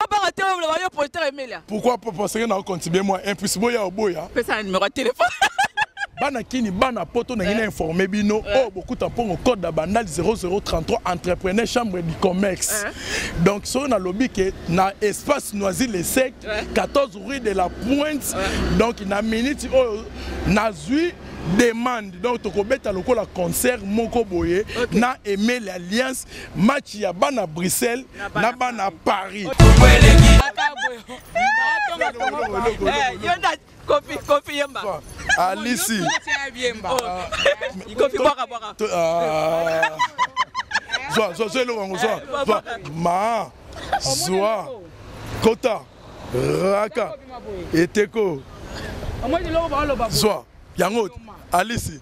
Obanga te oyo loba yo politer emelia. Pourquoi papa osenge na contribuer moi un plus boya oboya. Pesa na numéro ya téléphone. bana kini bana poto na ngina eh. informe bino eh. oyo oh, bokuta mpongo code ya bandal 0033 entrepreneur chambre du commerce eh. donc soki nalobi ke na espace noisi le sec 14 rue de la pointe donc na minute oyo nazwi demande donc tokobeta lokola concert moko boye okay. na emeli alliance match ya bana bruxelles na bana paris kofi kofi yemba alisi kofi bwaka bwaka zwa zwa zwa eloko yango zwa zwa ma zwa kota raka eteko zwa yango alisi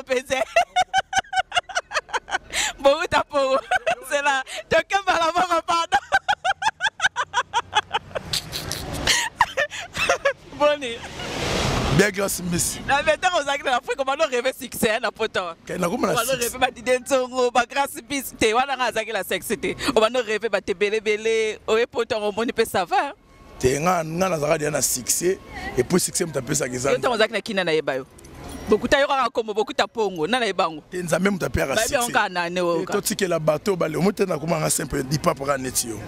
mpeze bouta poro zela tokemba na mama pado boni bien grace mbisi na betango ozalaki na afrika bano reve succès na poto nakomana bano reve badide nzongo bagrace mbisi te wana nga azalaki na sexe te obano reve batebelebele oye poto yango omoni mpe sava te nga nga nazalaka deja na succès et puis succès moto apesaka eza yo ntango ozalaki na kina nayeba yo bokuta yo kaka nkombo bokuta mpongo na nayeba yango te nzambe moto apeyaka succèkaka nane totikela bato bale omo te nakomanga simple dipapa kaka neti yo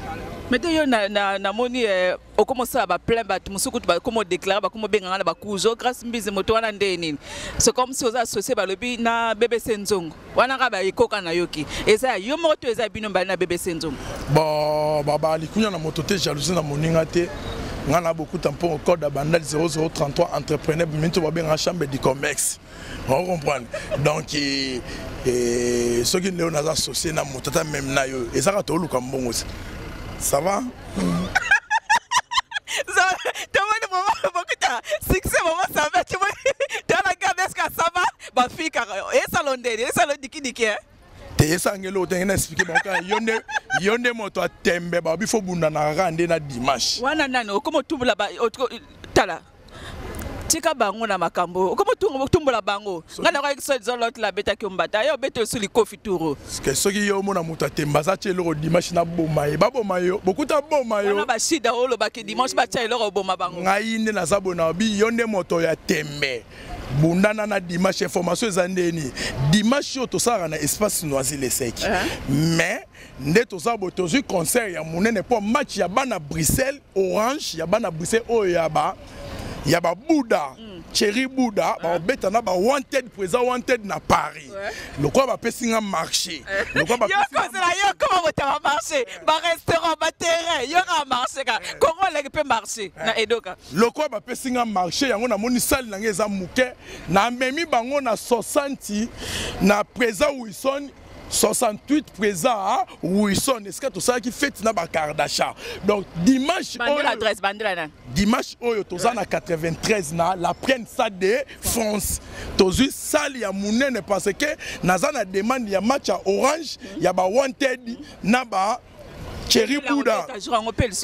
mais te yo namoni eh, okoma osala baplein bato mosusu kutu bakoma odeklare bakoma obenga nga na bakuzo grâce mbizi moto wana nde nini c'est comme si oza associe balobi na bbc nzongo wana kaka baekoka nayoki eza ya yo moko to eza ya bino mbali na bebe senzongo bon baba likunya na moto te jalousie na moninga te nga na bokuta mpo code abandali 0033 entrepreneur minto babengaka chambre du commerce o comprendre donc eh, eh, soki leo naza associe na moto ata meme na yo ezaka tooluka mbongo se ça va tomoni bokuta succès bomosabe tomoni tala garde eska ça va ba fille kaka esa londeli esa lodiki diki hein te esangeli oyo tenge na explike bango kaka yo nde yo nde moto ya tembe babi fo bundanaka kaka nde na dimanche wana nani okoma otumbola tala tika bango na makambo okoma otumbola bango ngai na koyaki soki eza lote labetaki yo mbata yo obeta osu likofi turo ke soki yo omona moto atemba aza tya eloko dimanche naboma ye baboma yo bokuta boma yo wana bashida olobaki dimanche batya eloko oboma bango ngai nde naza bonabi yo nde moto ya tembe bundana na dimanche information eza nde nini dimanche oyo tosalaka na espace noisi leseki uh -huh. mais nde toza boye tozwi concert ya monene mpo match ya bana bruxelles orange ya bana bruxelles oyo ya ba ya babuda mm. cheri buda uh -huh. baobeta na ba wanted mpo eza wanted na paris ouais. lokola bapesi nga marché eh. lokolaayokozela yo koma botaba marché barestaurant baterrain yokaa marché ka eh. kongo oleki mpe marché eh. na edoka Lokola bapesi nga marche yango namoni sali na nga eza moke namemi bango na 60 na presa wilson 68 présent à Wilson esika tosalaki fete na bakardasha donc dimanche oyo dimanche oyo toza na 93 na la prenne sa de france tozwi sale ya monene parce que naza na demande ya match ya orange ya ba wanted na ba Thierry Bouda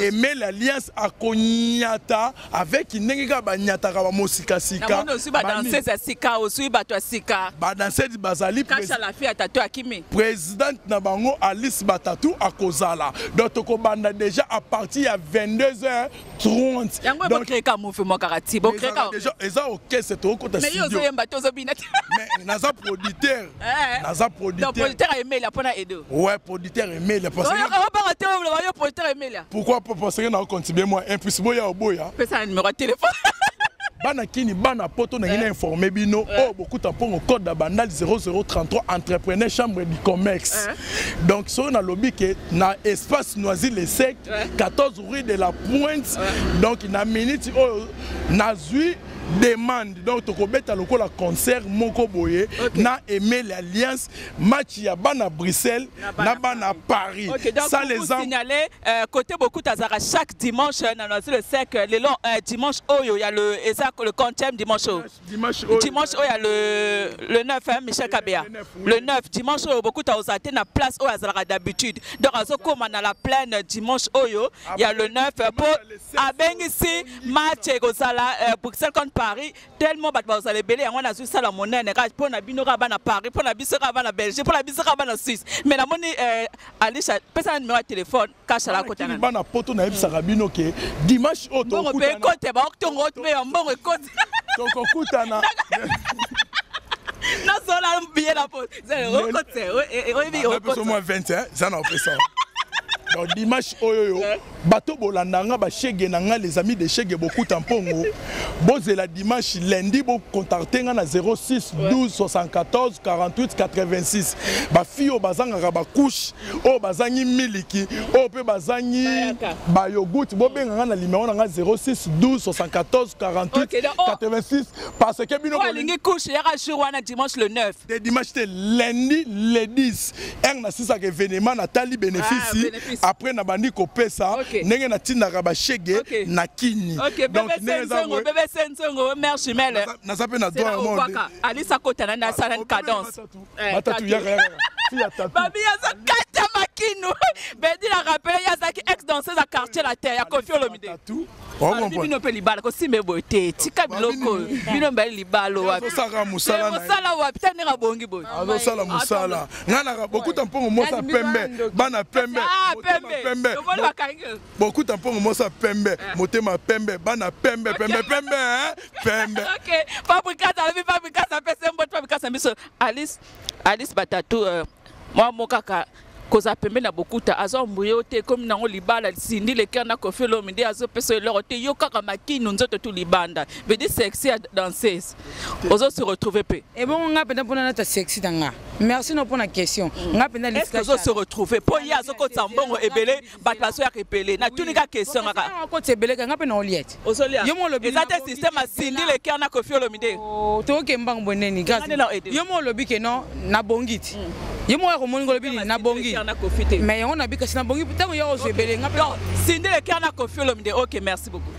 et met l'alliance à Konyata avec Nengeka Banyataka ba Mosika Sika. Non, aussi ba danseuse à Sika, aussi ba toi Sika. Ba danseuse bazali Kacha la fille à Tatou Akimi. Présidente na bango Alice Batatou à Kozala. Donc toko banda déjà à partir ya 22h 30 yango bokreka mofe mwa kaka ti bokreka déjà eza orchestre tokokota studio mais yo ozoyemba te ozobina te mais naza producteur eh. naza producteur donc producteur ayemelia mpo na edo ouais producteur emelia obanga te oloba yo producteur emelia pourquoi parce que naocontribue moi un plus boya oboya pesa na numero ya telefone bana kini bana poto na ngina eh. informer bino eh. oyo oh, bokuta mpongo code ya bandal 0033 entrepreneur chambre du commerce eh. donc soki nalobi ke na espace noisy le sec 14 Fruit de la pointe donc na minute oyo nazwi demande donc tokobeta lokola concert moko boye okay. na emeli alliance match ya bana bruxelles na bana paris okay, donc ça les ans signaler euh, côté beaucoup azaka chaque dimanche euh, na noisy le sec euh, lelo euh, dimanche oyo ya le eza le 50e dimanche oyo dimanche oyo dimanche oyo ya le le 9 hein, Michel Kabea le 9, oui. le 9 dimanche oyo bokuta ozala te na place oyo azalaka d'habitude donc azokoma na la plaine dimanche oyo ya le 9 po abengisi match ekozala euh, Bruxelles contre Paris tellement bato bazala ebele yango wana azwi sala monene kaka mpo na bino kaka bana Paris mpo na biso kaka bana Belgique mpo na biso kaka bana Suisse mais namoni euh, Alicia pesa na numero ya telefone kasha la kota na bana poto na yebisaka bino ke dimanche oyo tokutana mbongo pe kote ba oktongo oyo pe mbongo ekote tokokutana na zola billet na po okote oyebi okote moi 20 hein ça na opesa donc dimanche oyo yo eh. bato bolanda nga bashege na nga les amis de shege bokuta mpongo bozela dimanche lundi bocontacte nga na 06 12 74 48 86 bafi oyo bazangaka bacouche oyo bazangi miliki oyo mpe bazangi bayogut bobenga ngai na limero na ngai 06 12 74 48 86 parce que bino alingi couche yaka jour wana dimanche le 9 te dimanche te lundi le 10 eng nasisaka evenema natali bénéfice ah, après nabandi kopesa ndenge natindaka bashege na kini naza mpe na droit alisa kotana na salane cadence Eh, ba tatu yaka yaka fille ya tatu babi aza kata makinu bedi na rappele ye azalaki ex danseuse ya quartier la terre ya kofi olomide tatu Babi bino mpe libala kosimba eboye te tika biloko oyo bino mbali libala wapi azosaka mosala Eh, na ye. mosala wapi ta ndenge abongi boye azosala mosala ngai naka bokuta mpongo mwasi ya pembe bana pembe Ah, motema pembe. pembe Lokola bakangi. bokuta mpongo mwasi ya pembe motema pembe bana pembe pembe pembe hein? pembe okay fabrikasa alobi fabrikasa apesa mbote fabrikasa biso alice alice batatu uh, mwa mo kaka kozala pembe na bokuta azombu yo te ekomi nango libala sindi leker na kofi olomi nde azopesa eloko te yo kaka makinu nzoto tu libanda vedi sexy ya danseuse ozo se retrouve mpe ebongo ngai mpenza mpona nata sexy na nga merci no mpona question mm. ngai mpenza ozo se retrouve mpo ye azokotisa mbongo ebele bato bazoyaka ebele natuni ka question kaka koti ebele kanga mpe naolia ti yo mo olobi eza te système asindi le cœur na kofi olomide oh, toyoke mbango boneni gaz yo mo olobi ke non nabongi ti mm. ye moko ya komoni ngolobi nini nabongi mais yango nabi kasi nabongi ntango yo ozwa ebele nga sindi le cœur na kofi olomide ok merci beaucoup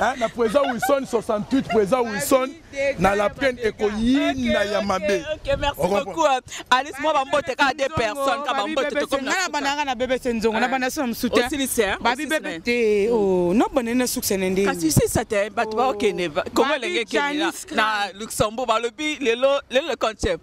Hein, na président Wilson 68 président Wilson na la plaine ekoyina ya mabe ok merci beaucoup euh, Alice moi ba mbote ka deux personnes ka ba mbote to comme na bana nga na bébé senzongo na bana sona msuta aussi ni sœur ba bi bébé te oh no bana na succès na ndenge kasi si ça te ba to ba okene comment lenge kene na Luxembourg ba lobi lelo lelo concept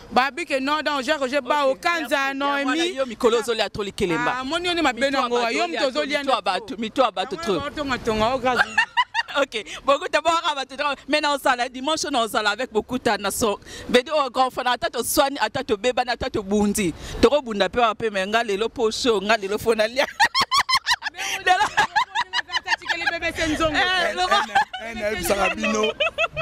babi ke non donc jacques je ba okanza noemi yo mikolo ozolia trop likelemba ah, moni yo nde mabe nango wa yo moto ozolia mito ya bato mito ya bato trop otongatonga o grâce ok bokuta boyaka bato trop mai na ozala dimanche na ozala avec bokuta na so bedi oyo oh, grand fana ata toswani ata tobebani ata tobundi tokobunda mpe wape mai nga lelo mpo sho nga lelo fo nalia lelo bebe se nzongo eh, nayebisaka bino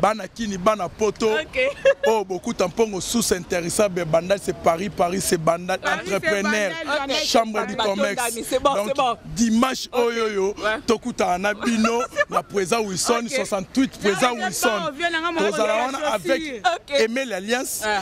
bana kini bana poto oyo okay. oh, bokuta mpongo sous interessable bandal c'est paris paris c'est bandal entrepreneur okay. chambre du commerce bon, donc bon. dimanche okay. oyo oyo ouais. tokutana na bino na présent wilson okay. 68 présent wilson tozala wana avec okay. emel alliance ouais.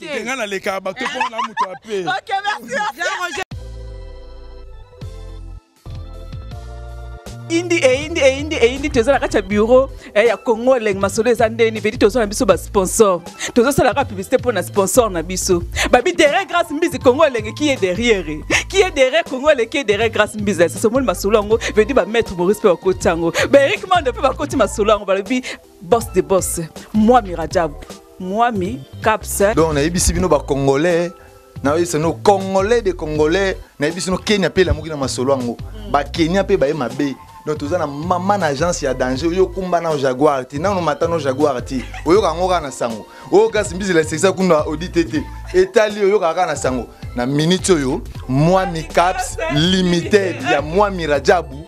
te nga na leka ba to pona mutu ape OK merci eyindi eyindi eyindi eyindi toza na kati ya bureau eh, ya congo elenge masolo eza ndeni vedi toza na biso basponsor tozosalaka publicité mpo na sponsor na biso babi derrière grâce mbizi congo elenge qui est derrière qui est derrière congo elenge qui est derrière grâce mbizi sasa omoni masolo yango vedi bamaître maurice mpe bakoti yango baerik mando mpe bakoti masolo yango balobi boss de boss mwami rajab mwami caps donc nayebisi bino bacongolais nayebisi no congolais de congolais nayebisi no kenya mpe elamuki na masolo yango mm. bakenya mpe baye mabe donc toza na mama na agence ya danger oyo okumba nao jaguar te nano mata no jaguar te oyoka yango kaka na sango oyo kasi mbizela esekisa kuna audite te etali oyokaka kaka na sango na minute oyo mwami caps limited ya mwami rajabu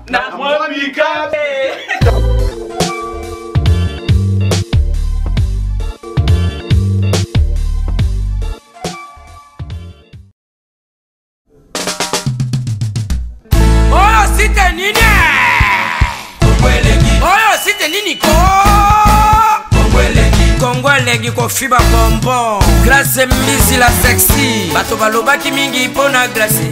na mwa bikape oyo site nini oyo site nini ko kongo elengi kofiba bonbon grace mbisi la sexy bato balobaki mingi mpo na grace